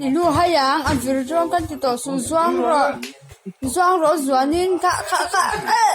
I lu hai ang a vir zawng kan ti tawh suh zuang rawh zuang rawh zuan in kah kah kah eh.